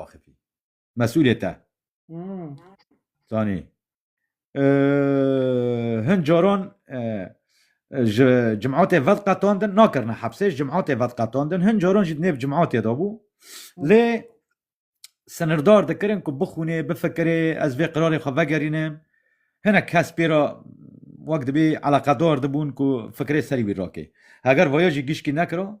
axivî. Mesûlê te zanî. Hin caran ji cimatê vedqetandin nakirine hepsê, ji cimatê vedqetandin, hin caran jî di nêv cimatê de bû. Lê sinirdar dikirin ku bixwînê, bifikirê, ez vê qirarê xwe vegerînim. Hinek kes pê re wek dibê eleqedar dibûn ku fikirê serî wî rakê. Heger vaya jî gişkî nekira,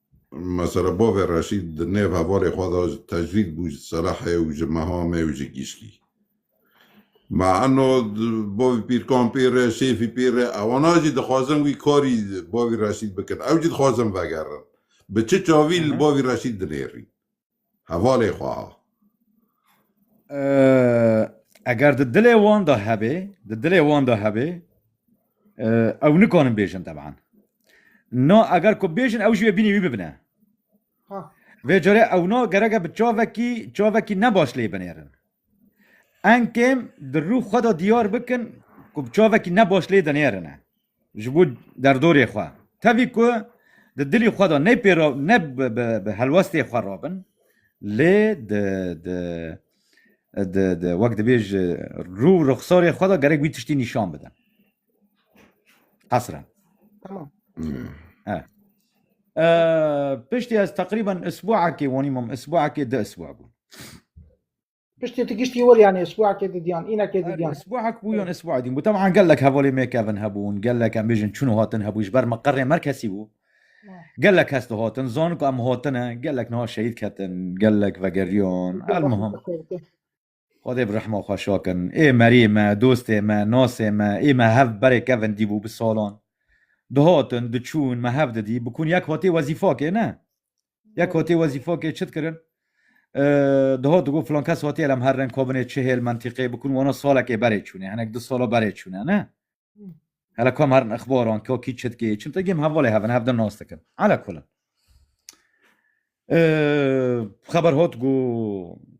Mesela bavê Reşîd di nêv hevalê xwe de ji tecrîd bû ji Serehê û ji Mehamê û ji Gîşkî. Me eno bavê Pîrkampîr e, Şêfî Pîr e, ewana jî dixwazin wî karî bavê Reşîd bikin. Ew jî dixwazin vegerin. Bi çi çavî li bavê Reşîd dinêrîn? Hevalê xwe ha. Eger di dilê wan de hebê, di dilê wan de hebê, ew nikanin bêjin teban. Na eger ku bêjin ew jî wê bînî wî bibine. Vê carê ew na gereke bi çavekî çavekî ne baş lê binêrin. Enkêm di rû xwe de diyar bikin ku bi çavekî ne baş lê dinêrine. Ji bo derdorê xwe, tevî ku di dilî xwe de ne pêro ne bi helwestê xwe rabin lê di wek dibê ji rû û rixsarê xwe de gerek wî tiştî nîşan bidin. Qesren. Tamam. He. Piştî ez teqrîben isbuekê wanî mam, isbuekê du isbuek bûn. Piştî tu giştî wir yanê sibwakê didiyan, înekê didiyan. Sibwak bû yan sibwak dîn bû. Teman gelek hevalê me kevin hebûn, gelek em bêjin çûn û hatin hebû ji ber me qerê me kesî bû. Gelek kes dihatin, zanin ku em hatine, gelek niha şehîd ketin, gelek vegeriyan. Elmuhim. Xwedê bi rehma xwe şakin. Ê meriyê me, dostê me, nasê me, ê me hev berê kevin dîbû bi salan. Dihatin, diçûn, me hev didî, bikûn yek hatê wezîfakê ne. Yek hotê wezîfokê çit kirin. Diho digo filan kes hotê lem her reng kobinê çihêl mentîqê bikun wano salekê berê çûnê hinek du sala berê çûne ne. Hele kom herin ixbaran ko kî çit kê çim te gêm hevalê hevin hev din nas dikin. Ala kulin. Xeber hot gu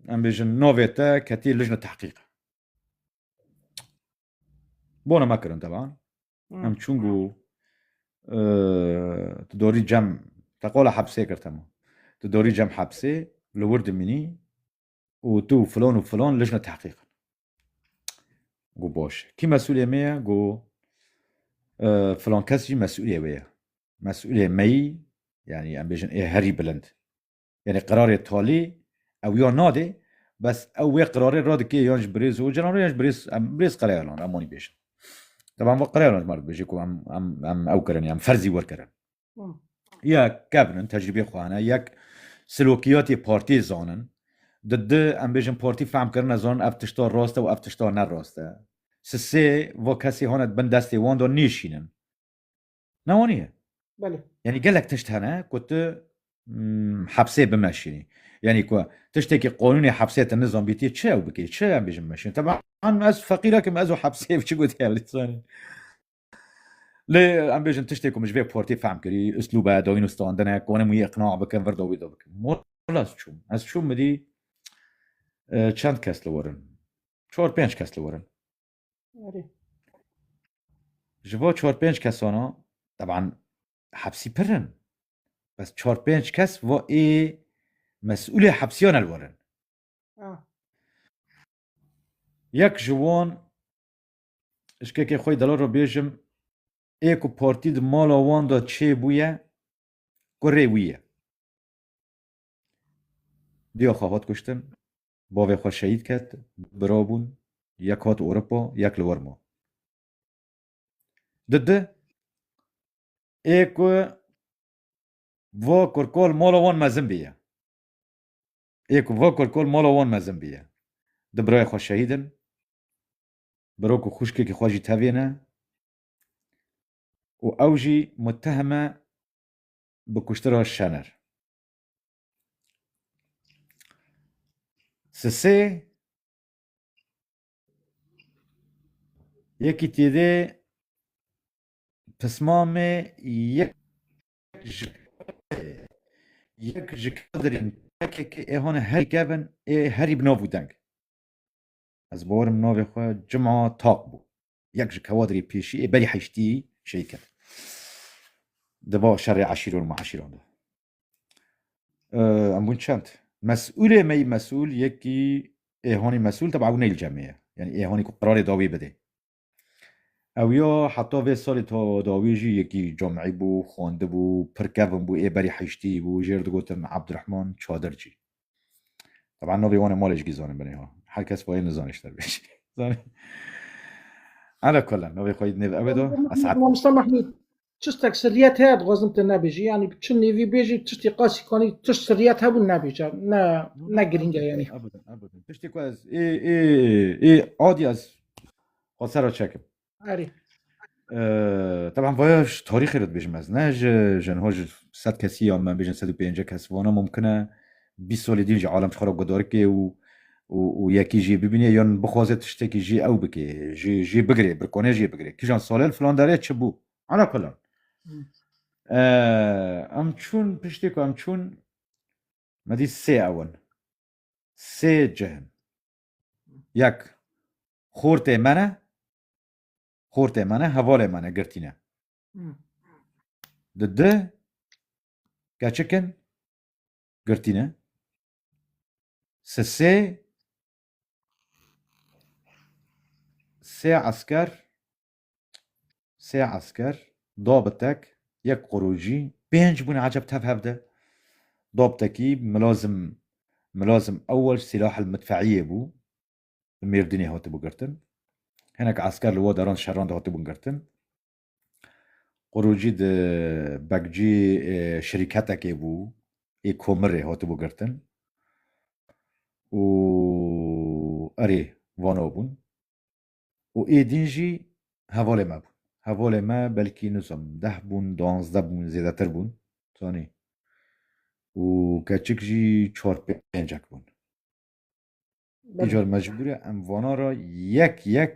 em bêjin navê te ketî lijne tehqîq. Bona me kirin teban. Em çûn ku tu dorî cem te qola hepsê kir tema. Tu dorî cem hepsê li wir dimînî û tu filon û filon lijne tehqîq. Gu boş. Kî mesulê me ye gu filon kes jî mesulê wê ye. Mesulê meyî yani em bêjin ê herî bilind Yanî qerarê talî ew ya nadê bes ew wê qerarê radike yan ji birêz Ocalan re yan ji birêz em birêz Qerayalan re em wanî bêjin. Teban va Qerayalan ji me re dibêje ku em em em ew kirinê em ferzî werkirin. Ya kevnin tecrîbê xwe hene yek silokiyatê partiyê zanin di di em bêjin partî fehm kirine zanin ev tişta rast e û ev tişta ne rast e. Sisê va kesê hane di bin destê wan de nêşînin. Na wan ye. Belê. Yanî gelek tişt hene ku tu hepsê bimeşînî. Yanî ku tiştekî qonûnê hepsê te nizanbîtî çi ew bikê, çi em bêjin bimeşînî. Teban ez feqîr ekim ez û hepsê ev çi gotî ew lê zanî. Lê em bêjin tiştê ku min ji vê portê fehm kirî, uslûbe, dawîn û standine, konê min wî îqna bikim, vir do wî do bikim. Wela ez çûm. Ez çûm midî çend kes li wir in. Çar pênc kes li wir in. Ji bo çar pênc kesana teban hepsî pir in bes çar pênc kes va ê mesûlê hepsiyan el werin. Yek ji wan şkekê xwe delal re bêjim ê ku partî di mala wan de çêbûye kurê wî ye. Diya xwe hat kuştin. Bavê xwe şehîd ket, du bira bûn, yek hat Ewropa, yek li wir ma. Di di ê ku va kurkal mala wan mezin bîye, ê ku va kurkal mala wan mezin bîye, du birayê xwe şehîd in, biro ku xwişkekî xwe jî tevê ne û ew jî muteheme bi kuştira Şener. Sisê yekî tîrê pismamê yek ji yek ji kadirên PKK ê hone herî kevin ê herî bi nav û deng. Ez borim navê xwe Cuma Taq bû. Yek ji kewadirê pêşî ê berî heştî şehîd ket. Di va şerê eşîr û meşîran de. Em bûn çend. Mesûlê me yî mesûl yekî ê honî mesûl teba ew neyl cemê ye. Yani ê honî ku qerarê dawî bidê. Ew ya heta vê salê ta dawî jî yekî camî bû, xwendibû, pir kevin bû, ê berî heyştî bû, jê re digotin Abdurehman Çadircî. Teba navê wan ê malê jikî zanin binê ha. Her kes bayê nizane ji te bê jî. Zanî. Ala kulan navê xwe yî nêv ew ê da. Esad. Mustafa Mahmûd. Çi seksiliyet heye dixwazim te nebêjî yanî çi nêvî bêjî tiştî qasî kanî tişt siliyet hebû nebêje ne ne girîng e yanî. Ebidin ebidin tiştê ku ez ê ê ê adî ez xwe sera çekim. Erî. Teban vaya ji tarîxê re dibêjim ez ne ji ji niha ji sed kesî ya me bêjin sed û pêncî kes vana mumkin e. bîst solê dîn jî alem ji xwe re gudarikê û û û yekî jî bibînê yan bixwaze tiştekî jî ew bikê jî jî bigirê birkone jî bigirê kîjan salên filan derê çi bû ala kulan em çûn piştê ku em çûn me dît sê ewin sê cihin yek xortê me ne xortê me ne hevalê me ne girtîne di di keçikin girtîne. Sesê sê esker sê esker dobitek yek qurûcî pênc bûne eceb tev hev de dobtekî milazim milazim ewel sîlahil midfeîyê bû li mêrdînê hatibû girtin hinek esker li wê deran şeran de hatibûn girtin Qurûcî di Bekcî şirîketekê bû ê komirê hatibû girtin û erê vano bûn û ê din jî hevalê me bûn. Hevalê me belkî nizom deh bûn, duanzde bûn, zêdetir bûn zanî û keçik jî çar pêncek bûn. Îcar mecbûre em vanan re yek yek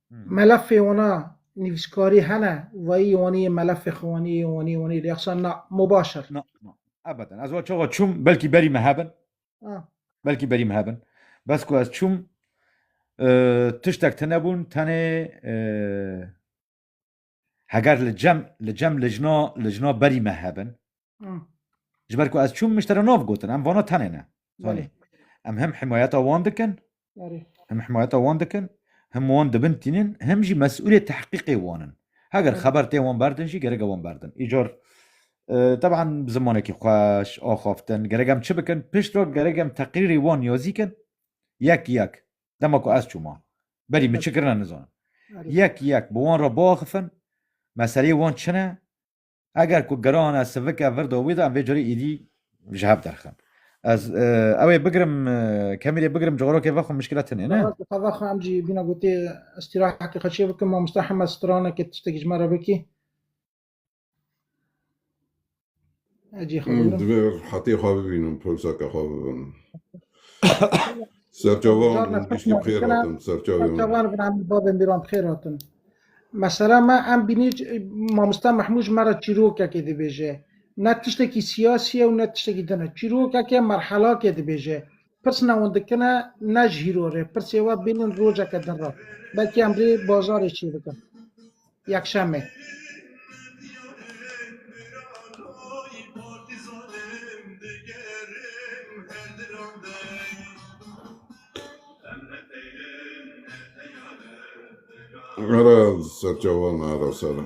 Melefê wana nivîskarî hene wayî wanî yê melefê xwe wanî yê wanî yê wanî yê rêxsan na mubaşir. Na na ebeden ez wa çawa çûm belkî berî me hebin Ah. belkî berî me hebin bes ku ez çûm e, tiştek tine bûn tenê e, Heger li cem li cem lijna lijna berî me hebin ji ber ku ez çûm min ji te re nav gotin em vana tenê ne zanî em hem himayeta wan dikin hem himayeta wan dikin hem wan dibin tînin hem jî mesûlê tehqîqê wan in heger xeber tê wan berdin jî gerek e wan berdin îcar teban bi zimanekî xweş axaftin gerek em çi bikin pişt re gerek em teqrîrê wan yazî kin yek yek dema ku ez çûma berî min çi kirine nizanim yek yek bi wan re biaxifin meseleyê wan çin e eger ku girane sivike vir da wî de em vê carê êdî ji hev derxin ez e, ew ê bigirim e, kemî rê bigirim coğrafya vexwe muşkila tinê ne Xevaxwe em jî bîna gotê îstîrahetê xwe çê bikim mamosta heme stranekê tiştekî ji me re bikî Ecî xebînim. Divê rehetê xwe bibînim, pirsaka xwe bibim. Serçavan Zarna pişt giştî bi xêr nabikina, hatin serçavê min. Çavan bin Amî babên bîran bi xêr hatin. Mesela me em bînî mamosta Mehmûj me re çîrokekê dibêje. Ne tiştekî siyasî ye û ne tiştekî din e. Çîrokeke merhelakê dibêje. Pirsina wan dikine ne ji hîro rê. Pirsê we bînin rojeke din re. Belkî em rê bazarê çê bikin. Yekşemê. Ara serçavan ara sera.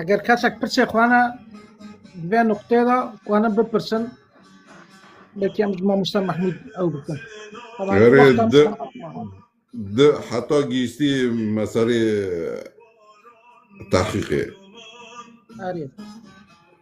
Eger kesek pirsê xwe ne di vê nuqteyê de xwanin bipirsin belkî em ji mamoste Mehmûd ew bikin. Taban Erê, wexta di- misafir xwe. Di heta gihîştî me serê tehqîqê. Erê.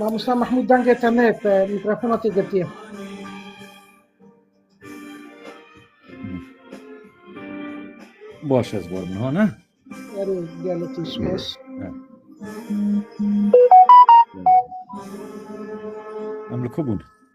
Mamosta Mahmud dengê te ne te mikrofona tê girtiye. Baş ez borim ha ne? Erê gelê tê spas. Em li ku bûn?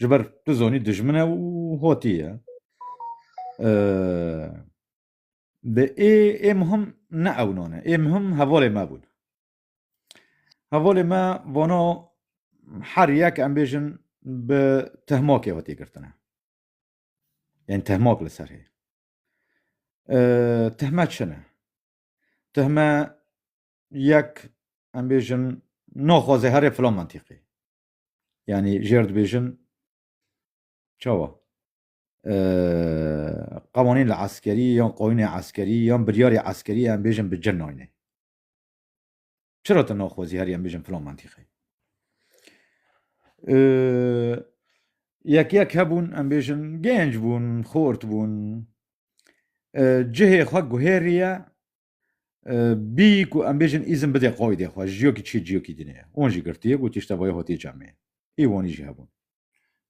Ji ber tu zonî dijmin e û hotî ye. Dê ê ê muhim ne ewnan e. Ê muhim hevalê me bûn. Hevalê me vana her yek em bêjin bi tehmakê hotî girtine. Yên tehmak li ser hê. Tehme çi ne? Tehme yek em bêjin naxwaze herê filan mentîqê. Yani jêr dibêjin çawa? Qewanîn li eskerî yan qanûnê eskerî yan biryarê eskerî em bêjin bi cin nayne. Çira tu naxwazî herî em bêjin filan mentîqe? Yek yek hebûn em bêjin gênc bûn, xort bûn. Cihê xwe guhêriye Bî ku em bêjin îzin bidê qoydê xwe ji yekî çi ciyekî dinê. Wan jî girtiye got tişta vaya hatiye camê. Ê wanî jî hebûn.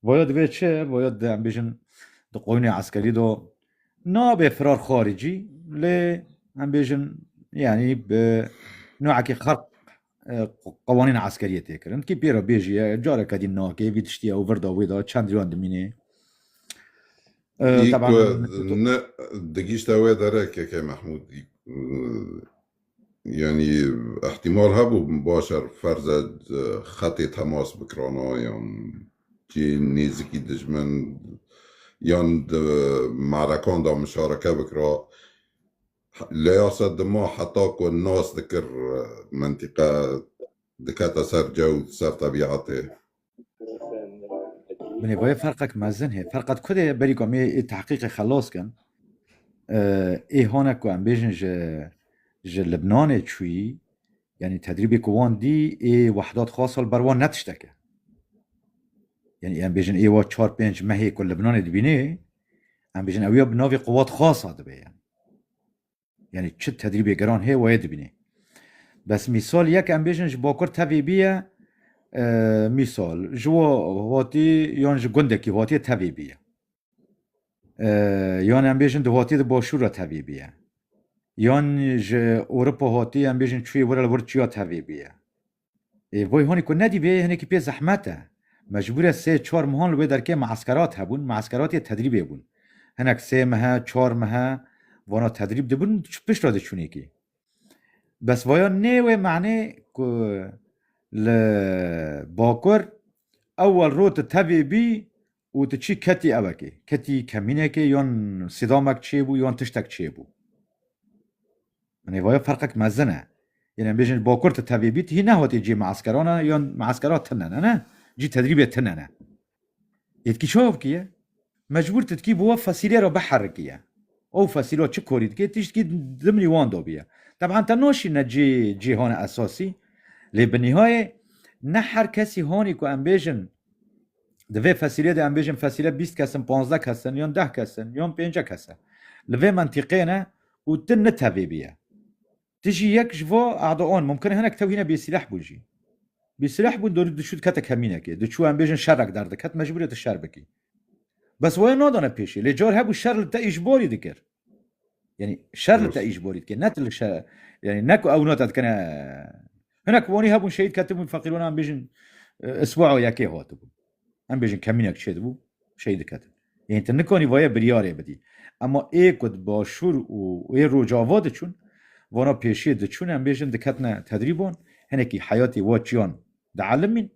Vaya divê çi? Vaya di em bêjin di qoynê eskerî de nabê firar xaricî lê em bêjin yanî bi newekî xerq qewanîna eskeriyê tê kirin kî pê re bêjiye careke dî nake vî tiştiye û virda wê da çend riyan dimînê ne digîşta wê dere keke Mehmûd yanî ehtimal hebû başer ferze xetê temas bikirana yan cî nêzikî dijmin yan di marekan da mişareke bikira Leya se dima heta ku nas dikir mentîqe dikete ser cew, ser tebîetê. Bi nêvayê ferqek mezin hê. Ferqa di ku de ye, berî ku em ê ê tehqîqê xelas kin, ê hane ku em bêjin ji ji Libnanê çûyî, yanî tedrîbê ku wan dî ê wahda di xwe sal ber wan ne tiştek e. Yanî em bêjin ê wa çar pênc mehê ku Libnanê dibînê, Em bijin ew ya bi navê quwat xasa dibe yan. Yani çi tedrîbê geran heye wayê dibînê. Bes mîsal yek em bêjin ji bakur tevê bîye e, mîsal ji wa hatî yan ji gundekî hatî tevê bîye. E, yan em bêjin di hatî di başûr re tevê bîye. Yan ji Ewropa hatî em bêjin çûyê wir li wir çiya tevê bîye. Ê voy honî ku nedî vê hinekî pê zehmet e. Mecbûre sê çar mehan li wê derkê meeskerat hebûn, meeskeratê tedrîbê bûn. Hinek sê mehe, çar mehe vana tedrîb dibin pişt re diçûnê kî. Bes vaya nê wê menê ku li bakur ewel rû tu tevê bî û tu çi ketî evekê, ketî kemînekê yan sîdamek çêbû yan tiştek çêbû. Min ê vayê ferqek mezin e. Yên em bêjin bakur tu tevê bî tu hî nehatî cî measkeran e yan measkera tune ne ne, cî tedrîbê tune ne. Êdkî çav kî ye? Mecbûr tu dikî bi we fesîlê re biherikî ye. Ew fesîla çi karî dike tiştkî dimnî wan dabî ye. Teb'an te naşîne cî cîhana esasî lê bi nîhayê ne her kesî hanî ku em bêjin, Di vê fesîlê de em bêjin fesîle bîst kes in, panzdeh kes in yon deh kes in yon pênce kes e. Li vê mentîqê ne û tu nitevêbî ye. Tu jî yek ji vo Erdogan mumkin e hinek tewhîne bêsîleh bûn jî. Bêsîleh bûn dorî diçû dikete kemînekê. Diçû em bêjin şerek derdiket mecbûr e tu şer bikî. Bes we nadane pêşê. Lê car hebû şer li te îjbarî dikir. Yani şer li te îş borî dike ne tu li şer yani ne ku ew nota dikene hinek wanî hebûn şehîd ketibûn feqîronan bêjin isbu'a yekê hatibûn em bêjin kemînek çê dibû şehîd diketin yani tu nikanî vayê biryarê bidî ema ê ku di başûr û ê rojava diçûn vana pêşiyê diçûn em bêjin diketine tedrîbon hinekî heyatê wa çiyan di elimîn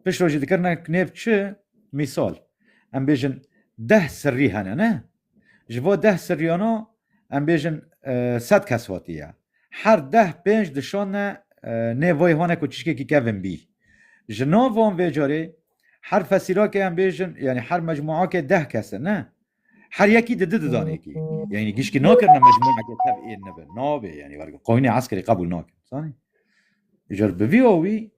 Pişt rojî dikirine nêv çi mîsal em bêjin deh sirrî hene ne ji bo deh sirriyana em bêjin sed kes hatiye her deh pênc dişane nêv vê hane ku çişkekî kevin bî ji nav van vê carê her fesîrakê em bêjin yanî her mecmuakê deh kes e ne Her yekî di di didanekî. Yani gişkî nakirine mecmueke tev ên nebe. Nabê yani werge. Qanûnê eskerî qebûl nakin. Zanî? Jer bi vî awî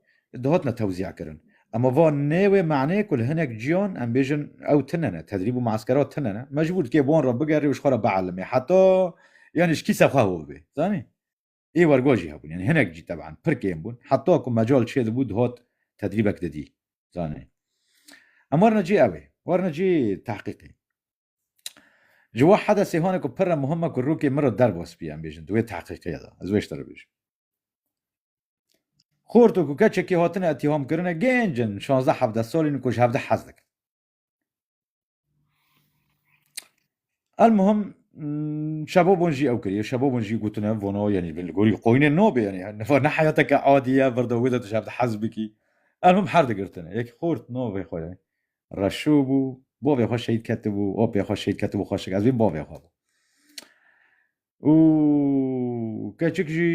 dihatine tewzîa kirin. Ema va nê wê maneyê ku li hinek ciyan em bêjin ew tune ne, tedrîb û mueskera tune ne. Mecbûr dikê bi wan re bigerî û ji xwe re bielimê heta yani ji kî ser xwe hov bê. Zanî? Ê wergo jî hebûn yanî hinek jî teban pir kêm bûn heta ku mecal çêdibû dihot tedrîbek didî zanî. Em werine cê ew ê werine cê tehqîqê. Ji we hede sêhanê ku pir re muhim e ku rûkê min re derba spî em bêjin di wê tehqîqê de ez wê ji te re bêjim. Xort û ku keçekî hatine îtîhamkirine gênc in şazdeh hevdeh salîn û ku ji hevdeh hez dikin. El muhim şebobon jî ew kiriye şebobon jî gotine vono yanî li gorî qoynê nobê yanî niva ne heyateke adî ye vir de wê de tu şevde hez bikî el him her digirtine yek xort no vê xwe ye reşo bû bavê xwe şehîd ketibû opê xwe şehîd ketibû xweşik ez vê bavê xwe bû û keçik jî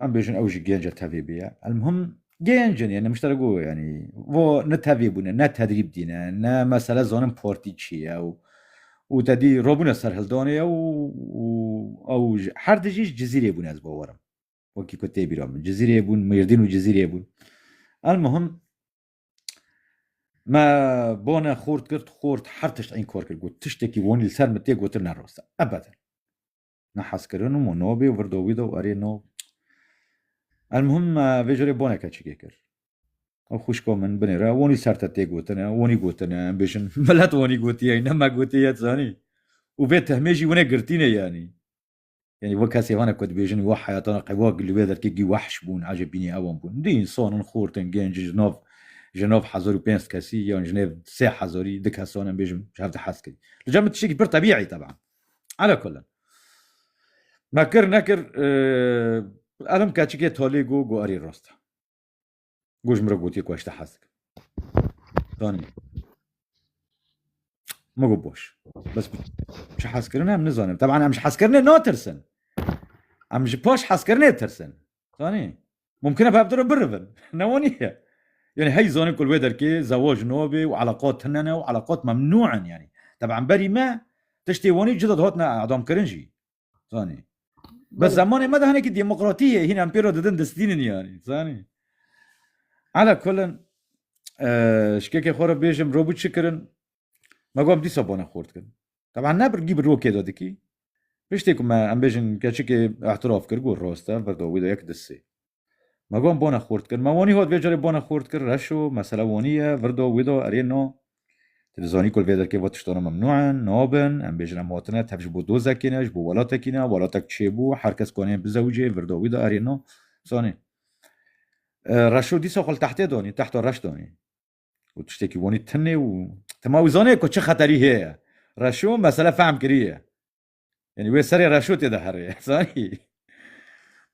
em bêjin ew jî gênce tevê bêye elmhim gêncin ye nemiştera got yanî vo ne tevê bûne ne tedrîb dîne ne mesele zanin partî çi ye û û te dî robûne ser hildanê ye û û ew ji her dijî ji cizîrê bûne ez bawerim wekî ku tê bîra min cizîrê bûn mêrdîn û cizîrê bûn elmhim Me bone xort girt xort her tişt eyn kor kir got tiştekî wonî li ser min tê gotin ne rosta ebeden ne hezkirin û monobê û virdo wî de û erê no El muhim vê jorê boneke çikê kir ew xwişko min binêre wonî ser te tê gotine wonî gotine em bêjin milet wonî gotiye ne me gotiye zanî û vê tehmê jî winê girtînê yanî Yanî wek kesê wan e ku dibêjin wa heyata ne qewak li wê derkê gî wehş bûn, ecê bînî ewan bûn. Dî însan in, xort in, gênc in, ji nav ji nav hezar û pênc kesî yan ji nêv sê hezarî du kesan em bêjim ji hev de hez kirî. Li cem min tiştekî pir tebîî teban. Ala kullin. Me kir nekir elim keçikê talê got, got erê rast e. Got ji min re gotiye ku ez ji te hez dikim. Zanîbû. Min got boş. Bes ku ji hezkirinê em nizanin. Teban em ji hezkirinê natirsin. Em ji paş hezkirinê tirsin. Zanî? Mumkin e pevdiro birivin. Ne waniye. Yani hey zanîn ku li wê derkê zewaj nabê û eleqat tune ne û eleqat memnû in yanî. Teban berî me tiştê wanî cida dihatine edamkirin jî. Zanî. Bi zemanê me de hinekî demokratî ye hîn em pê re didin distînin yanî zanî. Ala kulin şikekê xwe re bêjim robû çi kirin me got dîsa bone xort kirin. Teban ne birgî bi rokê de dikî. Piştê ku me em bêjin keçikê ihtiraf kir got roste berda wî de yek disê. Me gon bone xurt kir. Me wonî hot vê carê bone xurt kir. Reş o, mesele wonî ye. Virdo wî do erê no. Ti li zanî ku li vê derkê ve tiştano memnû in, nabin. Em bêjin em hatine tev ji bo dozekê ne, ji bo welatekî ne. Welatek çêbû, her kes kanê bizewicê. Virdo wî do erê no. Zanî. Reşo dîsa xwe li tehtê danî, tehta reş danî. Û tiştekî wonî tinê û tima wî zanê ku çi xeterî heye. Reşo mesele fehm kiriye. Yani wê serê reşûtê de herê. Zanî?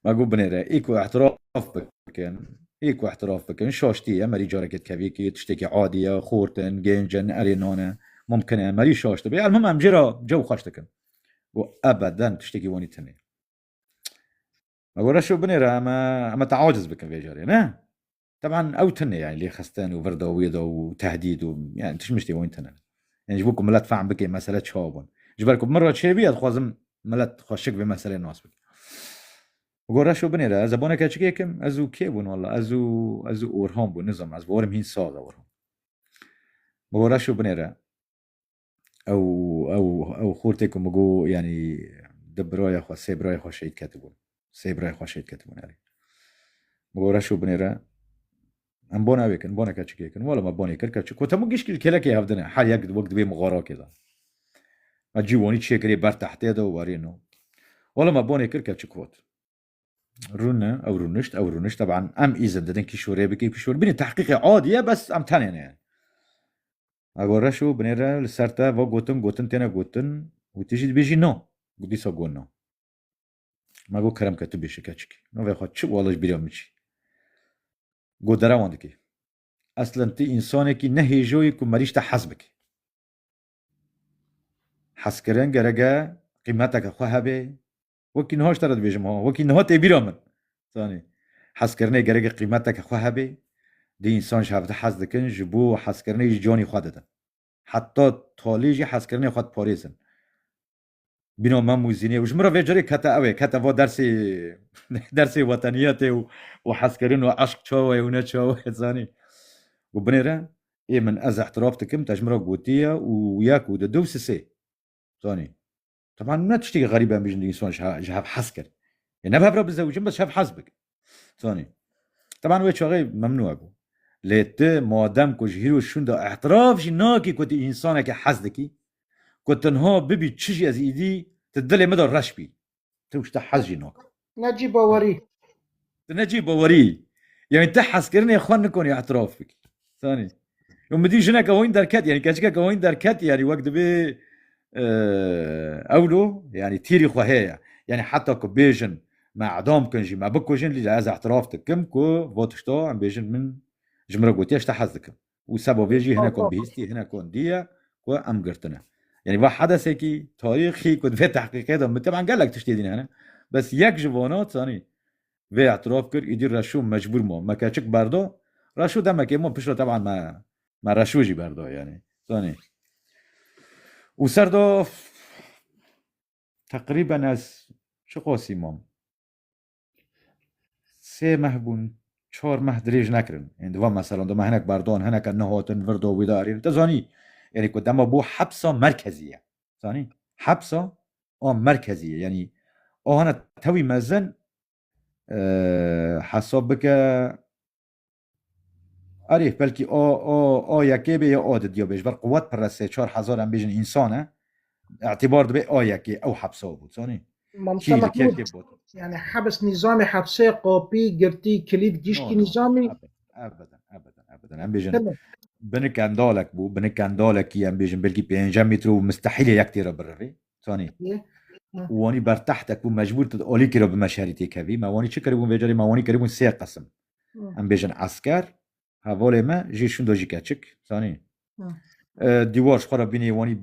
Ma got binêre. Î ku ihtiraf bikin, î ku ihtiraf bikin, şaştî ye, merî carekê tevîkî, tiştekî adî ye, xort in, gênc in, erê nan e, mumkin e, merî şaştî be. Elmim em jê re cew xweş dikin. Got ebeden tiştekî wanî tune. Ma got reşo binêre, em e, em e te aciz bikin vê carê, ne? Teban ew tune yani lê xisten û vir da wê da û tehdîd û yani tişmiş tê wan tune. Yani ji bo ku milet fehm bike mesele çawa bûn. Ji ber ku min re çêbî ez dixwazim milet xwe şik vê meselê nas bike. Go reş û binê re ez zebaneke çikê kim ez û kê bûn walla ez û ez û Orhan bûn nizanim ez bi warim hîn saz e Orhan. Go reş û binê re Ew ew ew xortê ku min got yanî du birayê xwe sê birayê xwe şehîd ketibûn. Sê birayê xwe şehîd ketibûn erê. Min got reş û binê re em bon evê kin, bonê keçikê kin. Wala me bonê kir keçik. Got hemû gişt kêlekê hev dine. Her yek wek divê min xarakê da. Me cîwanî çê kirê ber tehtê de û werîn û. Wala me bonê kir keçik got. Rûne ew rûnişt ew rûnişt teban em îzin didin kîşorê bikê kîşor binê tehqîqê adî ye bes em tenê ne. Ego reş û binê re li ser te va gotin gotin têne gotin û tu jî dibêjî na. Got dîsa got na. Me got kerem ke tu bêje keçikî. Navê xwe çi û ala ji bîra min çi. Got derewan dikê. Eslen tu însanekî ne hêjo yî ku merîj te hez bike. Hezkirin gerek e qîmeteke xwe hebe, Wekî niha ji te re dibêjim ha, wekî niha tê bîra min. Zanî. Hezkirinê gerek qîmeteke xwe hebe. Di însan ji hev de hez dikin, ji bo hezkirinê jî canê xwe didin. Heta talê jî hezkirinê xwe diparêzin. Bîna mem û zînê û ji min re vê carê kete ew ê, kete va dersê dersê weteniyetê û û hezkirin û eşq çawa ye û ne çawa ye zanî. Got binê re ê min ez îhtiraf dikim te ji min re gotiye û yek û du du sisê. Zanî. Taban ne tiştekî xerîb em bijin dînson ji hev hez kir. Yê ne bi hev re bizewicin bes hev hez bikin. Zanî. Taban wê çaxê memnû hebû. Lê tu madem ku ji hîro şûn de ihtiraf jî nakî ku tu însanekî hez dikî, ku tenha bibî çi jî ez îdî, tu dilê min de reş bî. Tu ji te hez jî nakî. Necî bawerî. Tu necî bawerî. Yanî tu hezkirinê xwe nikonî etiraf bikî. Sanî. Yo midî jineke hoyîn derket yanî keçikeke hoyîn derket yanî wek dibê ewlo yanî tîrî xwe heye. Yanî heta ku bêjin me edam bikin jî me bikujin lî ez etiraf dikim ku va tişta em bêjin min ji min re gotiye ji te hez dikim. û seba vê jî hinek wan bihîstî hinek wan dîye ku em girtine. Yanî va hedesekî tarîxî ku di vê tehqîqê de miteban gelek tiştê dîn hene. Bes yek ji vana zanî vê îtiraf kir îdî reşo mecbûr ma me keçik berda. Reşo demekê ma piştre teban me me reşo jî berda yanî zanî. Û ser de teqrîben ez çiqasî mam. Sê meh bûn, çar meh dirêj nekirin. Ên di van meselan de me hinek berdan, hineke nehatin vir de wî de erên. Te zanî yanî ku dema bû hepsa merkezî ye. Zanî? Hepsa a merkezî ye. Yanî a hene tewî mezin hesab bike Arif belkî a a a yekê bê ya a di diya bê ji ber quwet pir e sê çar hezar em bêjin însan e îtîbar dibê a yekê ew hepsa bû zanî Mamosta Mehmûd yani hebs nîzamê hepsê qapî girtî kilît giştî nîzamî Ebeden ebeden ebeden em bêjin binik endalek bû binik endalekî em bêjin belkî pêncem mîtr û mistehîlê yek têra birevê zanî Wanî bertehtek bû mecbûr tu alîkî re bi me şerî têkevî me wanî çi kiribûn vê carê me wanî kiribûn sê qesim Em bêjin esker hevalê me jî şindo jî keçik zanî. Dîwar ji xwe re bînî wanî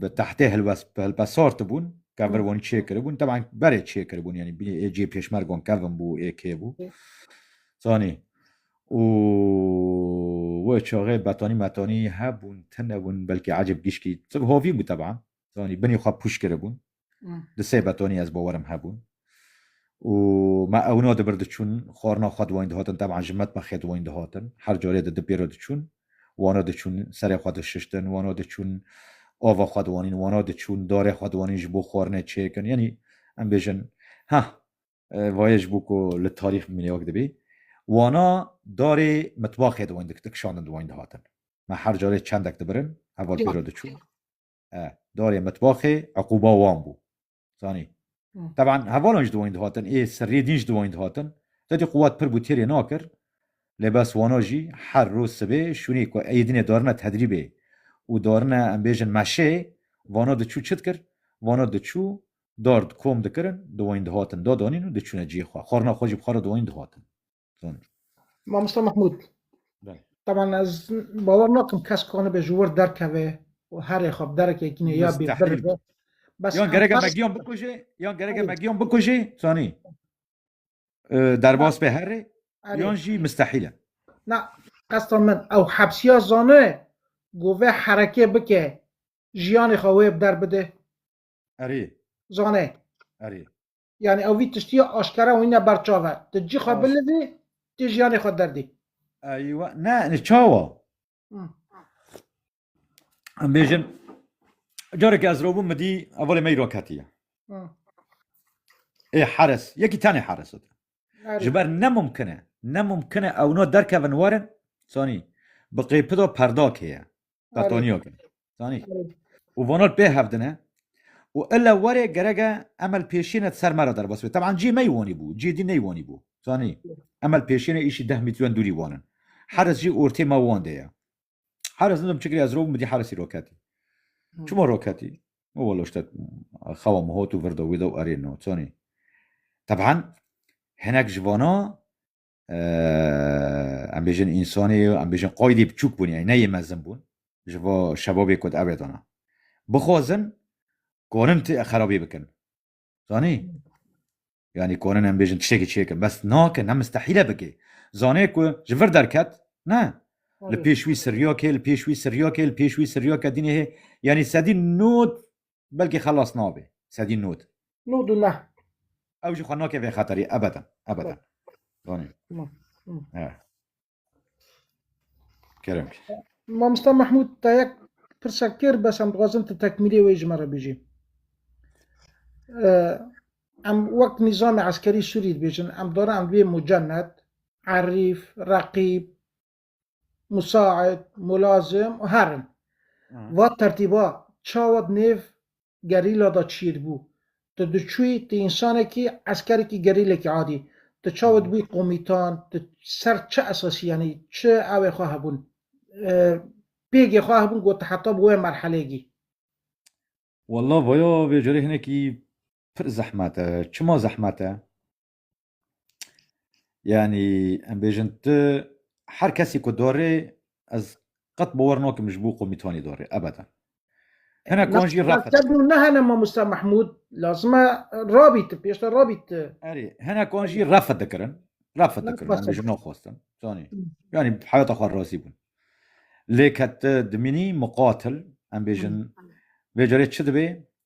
bi tehtê hilpesar dibûn kevir wanî çê kiribûn teban berê çê kiribûn yanî bînî ê cê pêşmergon kevin bû ê kê bû zanî û we çaxê betanî metanî hebûn tune bûn belkî ecib gişkî hovî bû teban zanî binî xwe pûş kiribûn Di sê betonî ez bowerim hebûn. û me ewno di bir diçûn xwarina xwe di wan dihatin teban ji metma xê di wan dihatin her carê di di pêro diçûn wana diçûn serê xwe dişiştin wana diçûn ava xwe di wanîn wana diçûn darê xwe di wanîn ji bo xwarinê çêkin yanî em bêjin ha vayê ji bo ku li tarîx bimîne wek dibî wana darê mitbaxê di wan dikişandin di wan dihatin me her carê çendek dibirin heval pêro diçûn e, darê mitbaxê eqûba wan bû. Zanî. Teban hevalan ji dawayîn dihatin, ê sirriyê dîn ji dawayîn dihatin. Tetê quwat pir bû têrê nakir. Lê bes wana jî her roj sibê şûnê ku Eydinê darine tedrîbê û darine em bêjin meşê, vana diçû çi dikir? Vana diçû dar di kom dikirin, dawayîn dihatin dadanîn û diçûne cihê xwe. Xwarina xwe jî bixwara dawayîn dihatin. Tamam. Mamosta Mahmud. Ben. Taban ez bawer nakim kes kanı be jüvür derkeve o her ekab derek ekine ya bir Müstahil. bir. Bas Yan gerek em megiyan bikuje. Yan gerek em megiyan bikuje. Sani. Ee, Derbas be herre. Yan jî müstahile. Na qestan min ew hepsiya zane gove hereke bike jiyanê xwe wê bi der bide. Erê. Zane. Erê. Yani ew vî tiştiya aşkera wîne ber çav e. Tu cî xwe bilivî, tu jiyanê xwe derdî. Eywa, ne, ne çawa. Em bêjin, careke ez robûm mi dî, evalê me îro ketiye. Ê heres, yekî tenê heres ot. Ji ber ne mumkin e, ne mumkin e ewna derkevin werin, sanî, bi qêpido perdakê ye. Betonîyo ke. Zanî. Û vano li pê hev dine û ile were gereke em li pêşiyê ne di ser me re derbas bê. Teban cî mey wanî bû, cî dî ney wanî bû. Zanî. Em li pêşiyê ne îşî deh mîtren dûrî wan in. Heris jî ortê me wan de ye. Heris nidim çi kirî ez robûm, min dî Herisî roketî. Çima roketî? Min welo ştet xewa min hot û vir de wî de û erêno. Zanî. Teban hinek ji vana em bêjin însanê em bêjin qaydê biçûk bûn yani neyê mezin bûn ji bo şebabê ku ev dana bixwazin konin ti xerabî bikin zanî yani konin em bêjin tiştekî çêkin bes nake ne mistehîle bikê zanê ku ji vir derket ne li pêş wî siryakê li pêş wî siryakê li pêş wî siryakê dînê hê yanî sedî not belkî xelas nabe. Sedî nod. Nod û neh. Ew jî xwe nake vê xeterê ebeden, ebeden. Zanî. He. Kerem. Mamosta Mehmûd te yek pirsek têr bes em dixwazin tu tekmîlê wê ji me re bijî. Em wek nîzamê eskerî Sûrî dibêjin, em dore em divê mucennet, erîf, reqîb, Musaid, Mulazim û herin. Va tertîba çawa di nêv gerîla de çiyê dibû? Tu diçûyî tu însanekî, eskerekî, gerîlekî adî. Tu çawa dibûyî komîtan? Tu ser çi esasî yanî çi ewê xwe hebûn? Pêgê xwe hebûn ku tu heta bi wê merheleyê gî? Walla vaya vê carê hinekî pir zehmet e. Çima zehmet e? Yanî em bêjin tu her kesî ku dorê ez qet bawar nakim ji bo komîtanî dorê ebeden. Hene kon jî reqet. Te bû nehene Mamosta Mehmûd lazime rabît pêşte rabît. Erê hene kon jî reqet dikirin. Reqet dikirin em bêjin naxwestin. Zanî. Yanî heyata xwe razî bûn. Lê ke tu dimînî muqatil em bêjin vê carê çi dibê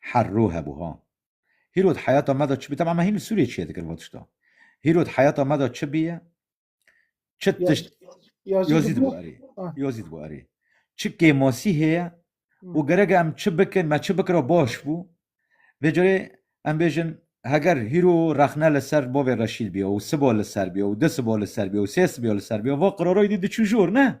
Herro hebû ha. Hîro di heyata me de çi bî? Teb'an me hîn li Sûriyê çiye dikirin vê tişta. Hîro di heyata me de çi bîye? Çi Ya tişt ya zî yazî dibû dibû. erê. Ah. Yazî dibû erê. Çi kêmasî heye Hmm. û gerek e em çi bikin, me çi bikira baş bû. Vê carê em bêjin heger hîro rexne li ser bavê reşîl bîya û siba li ser bîya û du siba li ser bîya û sê siba li ser bîya va qirara êdî diçû jor ne?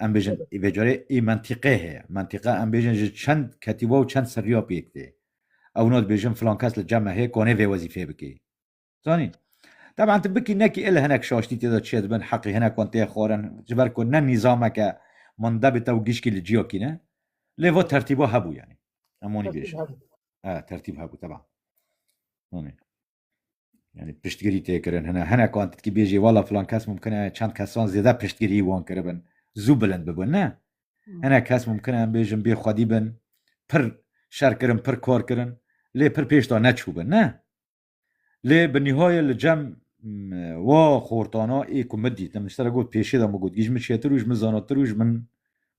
em bêjin ê vêcarê ê mentîqe heye. Mentîqa em bêjin ji çend ketîba û çend seriya pêk tê. Ew na dibêjin filan kes li cem me heye ku anê vê wezîfeyê bikê. Zanîn. Teban tu bikî nekî ê li hinek şaştî tê de çê dibin, heqî hinek wan tê xwarin, ji ber ku ne nîzameke manda bê tew gişkî li ciya kîne. Lê va tertîba hebû yanî. Em wanî bêjin. Tertîb hebû. He, tertîb hebû teban. Zanîn. Yani piştgirî tê kirin hine hinek an titkî bêjî wala filan kes mumkin e çend kesan zêde piştgirî wan kiribin zû bilind bibin ne hinek kes mumkin e em bêjin bê xwedî bin pir şer kirin pir kar kirin lê pir pêşta neçûbin ne lê bi nîhayê li cem wa xortana ê ku min dît min sere got pêşê de min got gîj min çêtir û ji min zanatir û ji min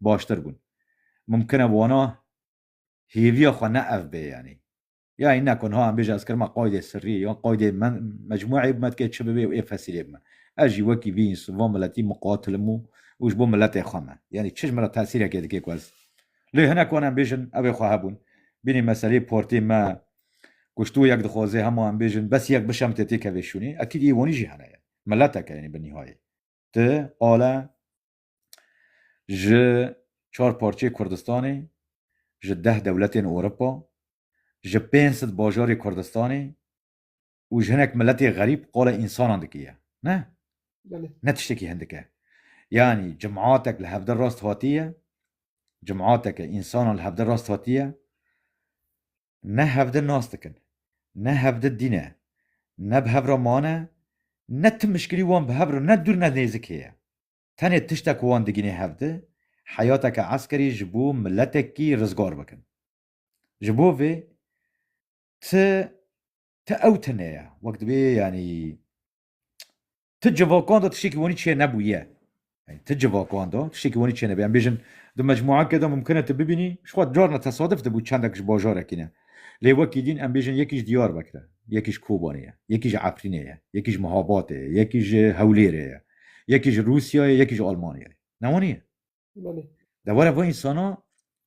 baştir bûn mumkin e wana hêviya xwe ne ev bê yanî Ya in ne ku niha em bêje ez kirima qaydê sirrî yan qaydê men mecmueyê bime dikê çi bibe û ê fesîlê bime. Ez jî wekî vî însan van miletî miqatilim û û ji bo miletê xwe me. Yanî çi ji min re tesîrekê dikê ku ez lê hinek wan em bêjin ew ê xwe hebûn. Bînî meseleyê partiyê me ku ji tu yek dixwaze hema em bêjin bes yek bişemite têkeve şûnê. Ekîd î wanî jî hene yanî mileteke yanî bi nîhayê ti qala ji çar parçeyê Kurdistanê, ji deh dewletên Ewropa, ji pênc sed bajarê Kurdistanê û ji hinek miletê xerîb qala însanan dikiye. Ne. Ne tiştekî hindik e. Yanî cematek li hevdeh rast hatiye, cemateke însanan li hevdeh rast hatiye, ne hevdeh nas dikin, ne hevdeh dîne, ne bi hev re mane, ne tim mişkilî wan bi hev re ne dûr ne nêzik heye. Tenê tiştek ku wan digînî hev di, heyateke eskerî ji bo miletekî rizgar bikin. Ji bo vê ti ti ew tune ye. Wek dibê yanî ti civakan de tiştekî wanî çê nebûye. Yanî ti civakan de tiştekî wanî çê nebûye. Em bêjin di mecmûeke de mimkin e ti bibînî, jixwe carna tesadif dibû çendek ji bajarekî ne. Lê wekî dîn em bêjin yekî ji Diyarbekir e, yekî ji Kobanê ye, yekî ji Efrînê ye, yekî ji Mihabatê ye, yekî ji Hewlêrê ye. Yekî ji Rûsyayê, yekî ji Almanyayê. Ne waniye? Belê. Dewera van însana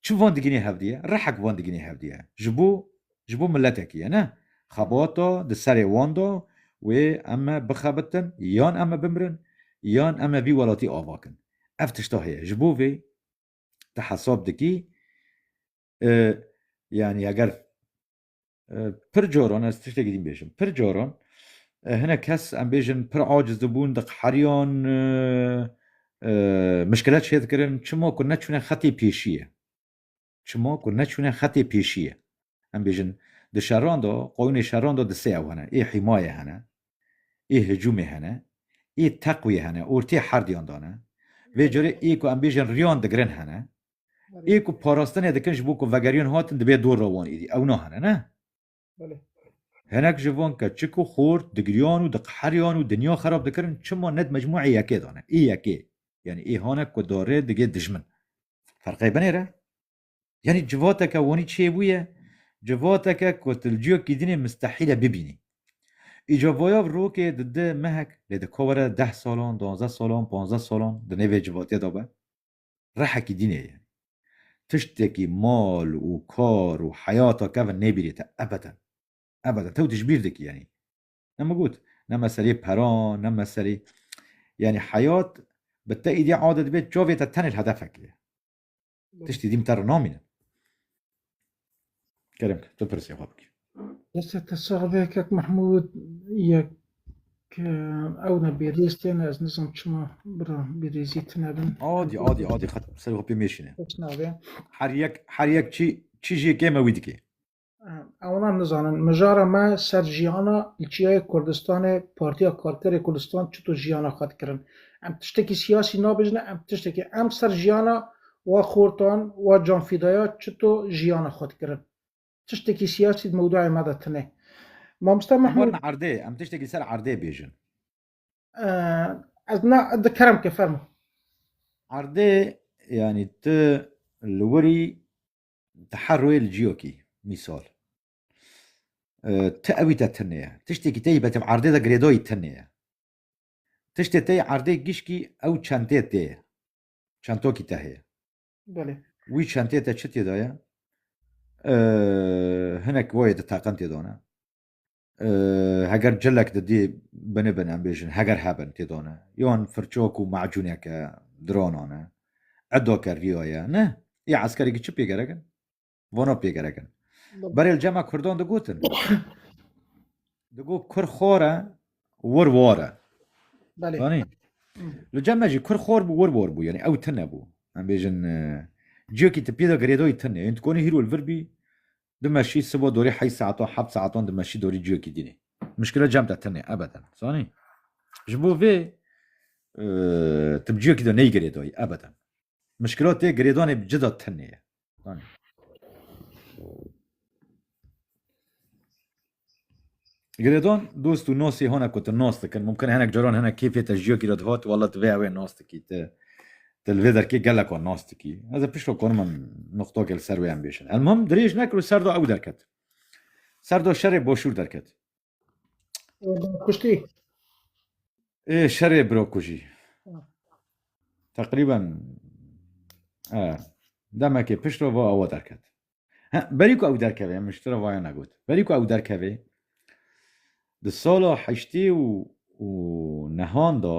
çi van digînê hevdîye? Rehek van digînê hevdîye. Ji bo ji bo miletekî ye ne? Xebata di serê wan de wê em ê bixebitin, yan em ê bimirin, yan em ê vî welatî ava kin. Ev tişta heye. Ji bo vê ti hesab dikî, yanî eger Pir caran ez tiştekî din bêjim. Pir caran hinek kes em bêjin pir aciz dibûn, diqheriyan, mişkilet şêr dikirin çima ku neçûne xetê pêşî ye. Çima ku neçûne xetê pêşî ye. Em bêjin di şeran de qawînê şeran de di sê ew hene. Ê hîmaye hene, ê hicûmê hene, ê teqwê hene, ortê herdiyan dane. Vê carê ê ku em bêjin riyan digirin hene. Ê ku parastinê dikin ji bo ku vegeriyan hatin dibê dor re wan êdî. Ew nahene ne? Hinek ji van ke çik û xort digiriyan û diqeheriyan û dinya xerab dikirin çima ne di mecmûeyê yekê de ne? Ê yekê yanî ê hane ku darê digê dijmin. Ferqê binê re? Yanî civateke wanî çê bûye? Civateke ku tu li ciyekî din ê mistehîl e bibînî. Îca vayav rokê di di mehek lê dika were deh salan, duwazdeh salan, panzdeh salan di nêvê civatiye de be. rehekî dînê ye. Tiştekî mal û kar û heyata kevin nêbîrê te ebeden. Ebeden. Tew dijbîr dikî yanî. Ne min got, ne meseleyê peran, ne meseleyê yanî heyat bi te îdî adet bê çavê te tenê li hedefekê ye. Tiştî dî min te re namîne. Kerem kir, tu pirsê xwe bikî. Deste te sağ be kek Mahmud yek ew ne bêrêz têne ez nizam çima bira bêrêzî tine bin. Adî adî adî xet ser xwe pê mêşîne. Kes nabe. Her yek her yek çi çi jê kê me wî dikê. Ewna nizanin mijara me ser jiyana li çiyayê Kurdistanê Partiya Karkerê Kurdistan çito jiyana xwe dikirin. Em tiştekî siyasî nabêjin em tiştekî em ser jiyana Wa xortan, wa canfîdaya çito jiyana xwe dikirin. Tiştekî siyasî di mewdueyê me de tune. Mamosta Mehmûd. Em werin erdê, em tiştekî ser erdê bêjin. Ez na dikerim ke fermo. Erdê yanî tu li wirî di her rûyê li ciyokî mîsal ti ewî te tune ye. Tiştekî teyî betêb erdê de girêdayî tune ye. Tiştê teyî erdê gişkî ew çentê tê ye. çentokî te heye. Belê. Wî çentê te çi têda ye? Hinek voyê di teqen têda ne. Heger cilek di dê bini bin em bêjin heger hebin têda ne. Yan firçok û macûneke dirana ne. Edake rîya ye ne. Yê eskerekî çi pê gerekin? Vono pê gerek in. Berê li cema Kurdan digotin. Digo Kur xor e, wir war e. Belê. Zanî? Li cema jî Kur xor bû, wir war bû. Yanî ew tune bû. Em bêjin e, ciyekî tu pê de girêdayî tune. Yên tu konî hîro li vir bî, dimeşî sibo dorî heyî saetan, heft saetan dimeşî dorî ciyekî dînê. Mişkile cem de tune, ebeden. Zanî? Ji bo vê e, tu bi ciyekî de neyê girêdayî, ebeden. Mişkila tê girêdanê bi cida tune ye. Hani. Giredon dost û nosê hona ku tu nos dikin mumkin hinek caran hinek kêfê te jiya kîra dihat wala tu vê ewê nos dikî te te li vê derkê gelek an nas dikî ez ê pişta karim em nuqtakê li ser wê em bêjin elmam dirêj nekir û serda ew derket serda şerê boşûr derket Kuştî. Ê şerê biro kujî. Teqrîben demekê pişt va ewa derket. Berî ku ew derkevê min ji te re vaya negot. Berî ku ew derkevê di sala heştê û û nehan da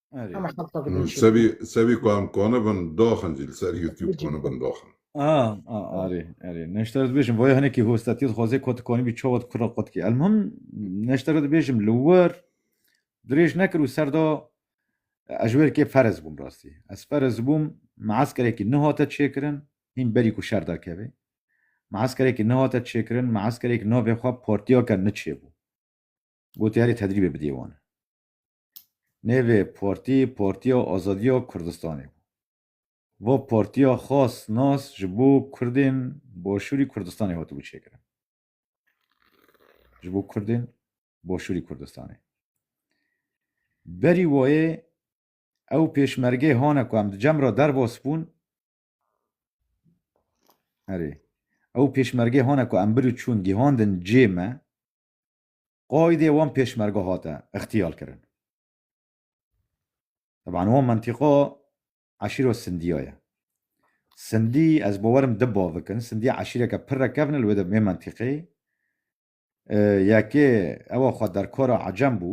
Hemî xelqa bi din şîrîn. Sevî sevî ku em konibin doxin jî li ser YouTube konibin doxin. A a arê erê neşter dibêjim vay hinekî hostetî dixwazê ku tu konî bî çawa kura qotkî. Elmuhim neşter dibêjim li wir dirêj nekir û ser da ez ji wêrkê ferez bûm rastî. Ez ferez bûm measkerekî nehate çêkirin hîn berî ku şer derkeve. Measkerekî nehate çêkirin measkerek navê xwe partiya ke niçêbû. Gotê erê tedrîbê bidê wan. Nêvê partî Partiya Azadiya Kurdistanê bû. Va partiya xas nas ji bo Kurdên Başûrî Kurdistanê hatibû çêkirin. Ji bo Kurdên Başûrî Kurdistanê. Berî wayê ew pêşmergê hane ku em di cem re derbas bûn Erê. Ew pêşmergê hane ku em bir û çûn gihandin cê me. qaîdê wan pêşmerge hate îxtîyalkirin. Teban wan mentîqa eşîra Sindiya ye. Sindî ez bawer im di bavik in. Sindî eşîreke pir rekevn e li wê de mê mentîqê. Yekê ewa xwe derkara ecem bû.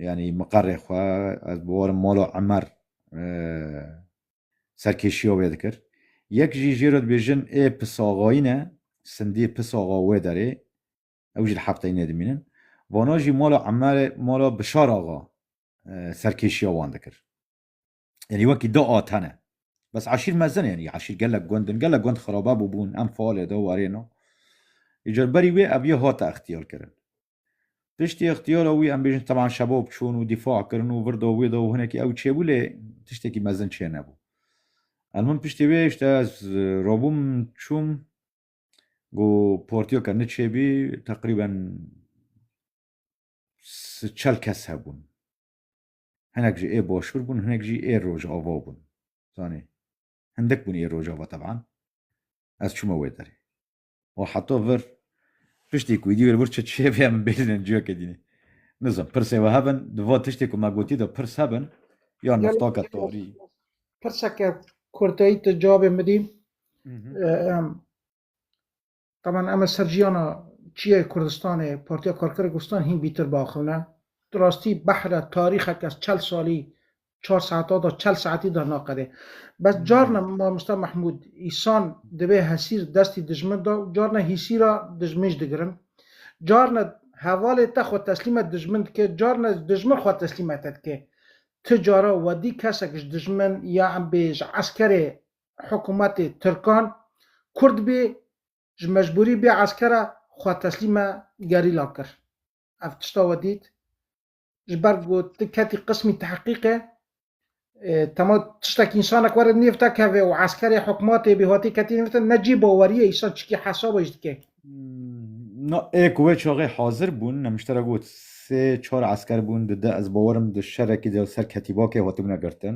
Yanî miqerê xwe ez bawer im mala Emer serkêşîya wê dikir. Yek jî jê re dibêjin ê pisaxayî ne. Sindî pisaxa wê derê. ew jî li Hefteyê nedimînin. Vana jî mala Emerê, mala Bişar axa serkêşiya wan dikir. Yanî wekî da a tene. Bes eşîr mezin e yanî eşîr gelek gund in, gelek gund xirabe bûbûn, em faalê da warê na. Îcar berî wê ev yê hate extiyarkirin. Piştî extiyara wî em bêjin teban şebab çûn û dîfa kirin û vir da wê da û hinekî ew çêbû lê tiştekî mezin çênebû. Elmim piştî wê îşte ez rabûm çûm Ku portiyo ke niçê bî teqrîben si çel kes hebûn. Hinek jî ê boşbir bûn, hinek jî ê rojava bûn. Zanî hindik bûn ê rojava teban. Ez çûme wê derê. Û heta vir piştî ku dîwêr vir çi çê bê min bêjin ciyakê dînê. Nizan pirsê we hebin, di va tiştê ku me gotî de pirs hebin ya niftaka tarî. Pirseke kurteyî tu cavê midî. Taban em ê ser jiyana çiyayê Kurdistanê Partiya Karkerê Kurdistan hîn bîtir biaxivne. Di rastî behre tarîxeke çel salî çar saeta da çel saetî da naqedê. Bes carna mamosta Mehmûd îsan divê hesîr destî dijmin da û carna hîsîra dijmin jî digirin. Carna hevalê te xwe teslîme dijmin dike, carna dijmin xwe teslîme te dike. Ti cara wedî kesek ji dijmin ya em bê ji eskerê hikûmetê tirkan kurd bê ji mecbûrî bê eskera xwe teslîme gerîlan kir. Ev tişta we dît. Ji ber ku tu ketî qismî tehqîqê tema tiştekî însanek were nêv te keve û eskerê hikûmetê bê hatê ketî nêv te ne cî baweriyê însan çikî hesaba jî dike. Na ê ku wê çaxê hazir bûn ne min te re got sê çar esker bûn di de ez bawerim di şerekî de ser ketîbakê hatibûne girtin.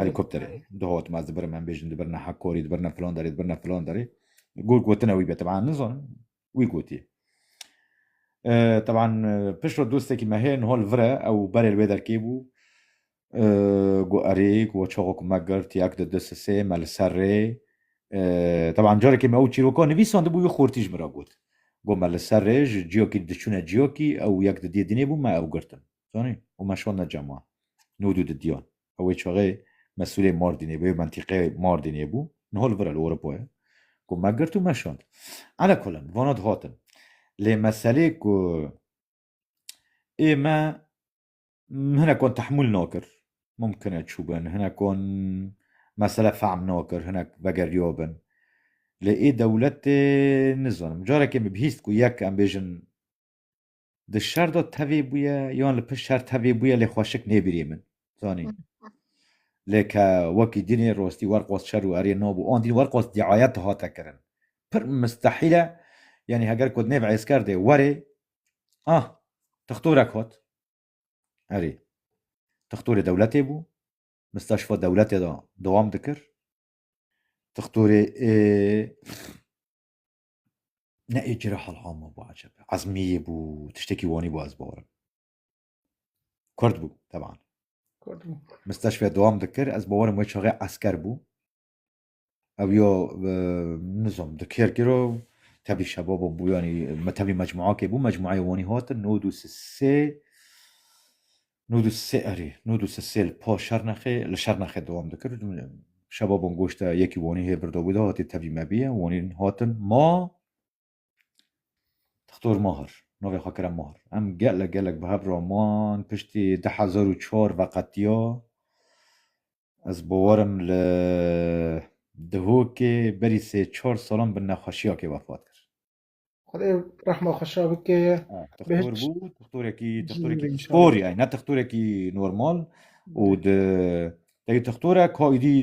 Helikopterê dihot maz di birime em bêjin di birine Hakorî di birine filan derê di birine filan derê got gotina wî be teban nizanim wî gotiye teban pişro dostekî me hê nihol vire ew berê li wê derkê bû got erê ku we çaxok me girt yak di disisê me li ser rê teban carekê me ew çîroka nivîsan dibû wî xortî ji min re got got me li ser rê ji ciyakî diçûne ciyakî ew yek di dê dinê bû me ew girtin Zanî? Û me şand ne cem wan. Nû dû di diyan. Ew wê çaxê mesûlê Mardînê bû, yê mentîqê Mardînê bû, niha li vir e li Ewropa ye. Ku me girt û me şand. Ala kullin, vana dihatin. Lê meselê ku ê me hinekan tehmûl nakir. Mumkin e çû bin, hinekan mesele fehm nakir, hinek vegeriya bin. Lê ê dewletê nizanim. Carekê min bihîst ku yek em bêjin di şer de tevê bûye yan li pişt şer tevê bûye lê xweşik nêbirî min zanî lê ke wekî dinê rostî werqos şer û erê nabû an dîn werqos diayet dihate kirin pir mistehîle yanî heger ku nêv êsker dê werê ah tixtorek hat erê tixtorê dewletê bû misteşfa dewletê de dewam dikir tixtorê Ne ê cira helhama bû ecebe. Ezmiyê bû, tiştekî wanî bû ez bawerim. Kurd bû teban. Kurd bû. Misteşfê dewam dikir, ez bawerim wê çaxê esker bû. Ew ya e, nizam di kêr kiro tevlî şebaba bû yanî me tevlî mecmuakê bû, mecmuayê wanî hatin nod û sê Nod û sê erê, nod û sê li pa Şernexê li Şernexê dewam dikir. Şeba bon goşte yekî wonî hê birdo bû de hatî tevî me bîye. Wonîn hatin ma Doktor Mahir, navê xwe kire Mahir. Em gelek gelek bi hev re man piştî du hezar û çar veqetiya ez bawer im li Dihokê berî sê çar salan bi nexweşiyakê vefat kir. Xwedê rehma xweşa bike. Tixtor bû, tixtorekî tixtorekî spor ye, ne tixtorekî normal û di tevî tixtor e ka îdî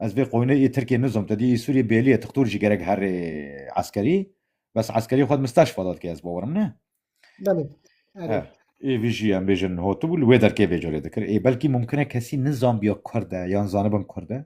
ez vê qoynê ê Tirkiyê nizom te dî ê Sûriyê bêlî ye tixtor jî gerek herê eskerî bes eskerî xwe misteşfa da dike ez bawerim ne. Belê. Ê vî jî em bêjin hatibû li wê derkê vê carê dikir. Ê belkî mumkin e kesî nizanbiya kurd e yan zanibin kurd e.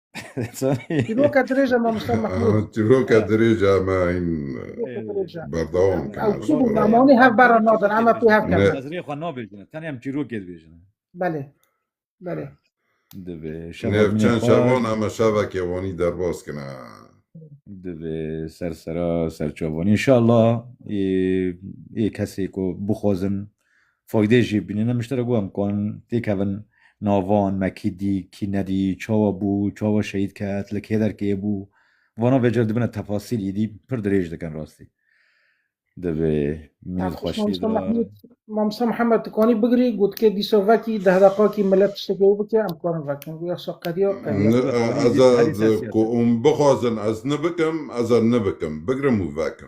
Çîroka dirêj e mamoste Mehmûd. Çîroka dirêj e me hîn berdewam kin. Ew çi bû namanî hev berra nadin em pê hev kin. Ez rê xwe nabêjin tenê em çîrokê dibêjin. Belê. Belê. Divê şevan çend şevan em şevekê wanî derbas kin. Divê sersera serçavanî inşallah ê kesê ku bixwazin Faydê jî bînîne mişterek wan kan têkevin navan me kî dî kî nedî çawa bû çawa şehîd ket li kê derkê bû vana vê cere dibine tefasîl îdî pir dirêj dikin rastî divê mînî xweşî Mamsa Mihemed dikanî bigirî gotikê dîsa vekî deh deqakî millet tiştekê wî bike em karin vekin guya sa qediya qediya ku hûn bixwazin ez nibikim ez ê nibikim bigirim û vekim